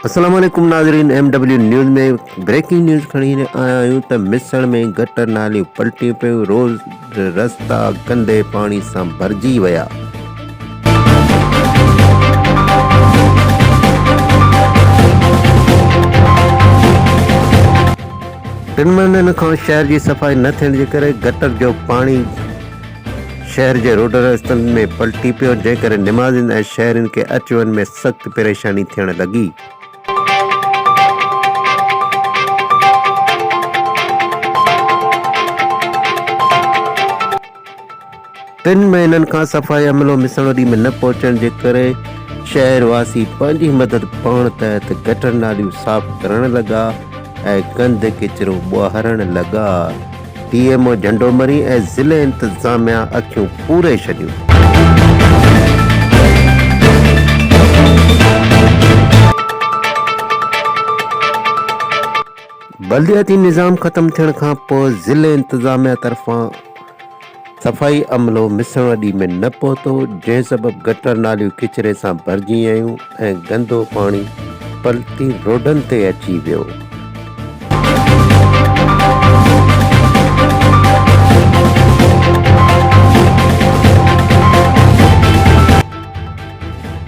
السلام عليڪم ناظرين M W news ۾ breaking news کڻي آيا آهيون ته مصر ۾ گٽر ناليون پلٽيون پيون روز رستا گندي پاڻي سان ڀرجي ويا ٽن مهينن کان شهر جي صفائي نه ٿيڻ جي ڪري گٽر جو پاڻي شهر جي روڊن رستن ۾ پلٽي پيو، جنهن ڪري نمازين ۽ شهرين کي اچ وڃ ۾ سخت پريشاني ٿيڻ لڳي. تن مهينن کان صفائي عملو مسڻ ڏي ۾ نه پهچڻ جي ڪري شهر واسي پنهنجي مدد پاڻ تحت گٽر ناليون صاف ڪرڻ لڳا ۽ گند ڪچرو ٻوهارڻ لڳا ڊي ايم او جهنڊو مري ۽ ضلعي انتظاميا اکيون پوري ڇڏيون. بلدياتي نظام ختم ٿيڻ کان پوء ضلعي انتظاميا طرفان. صفائي عملو مصر وڏي ۾ نه پهتو، جنهن سبب گٽر ناليون ڪچري سان ڀرجي ويون ۽ گندو پاڻي پلتي روڊن تي اچي ويو.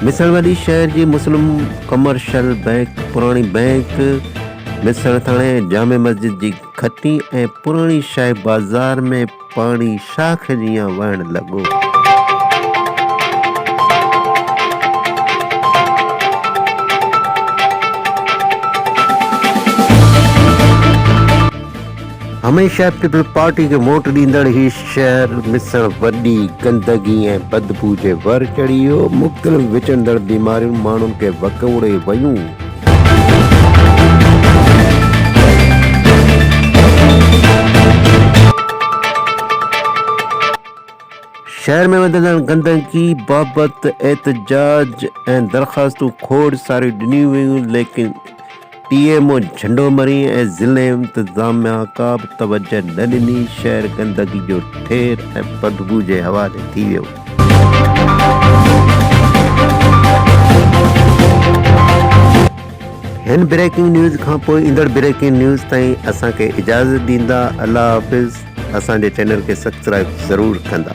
مصر وڏي شهر جي مسلم ڪمرشل بئنڪ، پراڻي بئنڪ، مصر ٿاڻي ۽ جامع مسجد جي کتي ۽ پراڻي شاهه بازار ۾ پاڻي شاخ جيان وهڻ لڳو. هميشه پيپلز پارٽي کي ووٽ ڏيندڙ هي شهر مصڻ وڏي گندگي ۽ بدبو جي ور چڙهي ويو، مختلف وچڙندڙ بيماريون ماڻهن کي وڪوڙي ويون. شهر ۾ وڌندڙ گندگي بابت احتجاج ۽ درخواستون کوڙ ساريون ڏنيون ويون ليڪن ٽي ايم او جهنڊو مري ۽ ضلعي انتظاميا ڪا به توجهه نه ڏني شهر گندگي جو ٺير ۽ بدبو جي حوالي ٿي ويو. هن بريڪنگ نيوز کان پوء ايندڙ بريڪنگ نيوز تائين اسان کي اجازت ڏيندا الله حافظ اسان جي چينل کي سبسڪرائب ضرور ڪندا.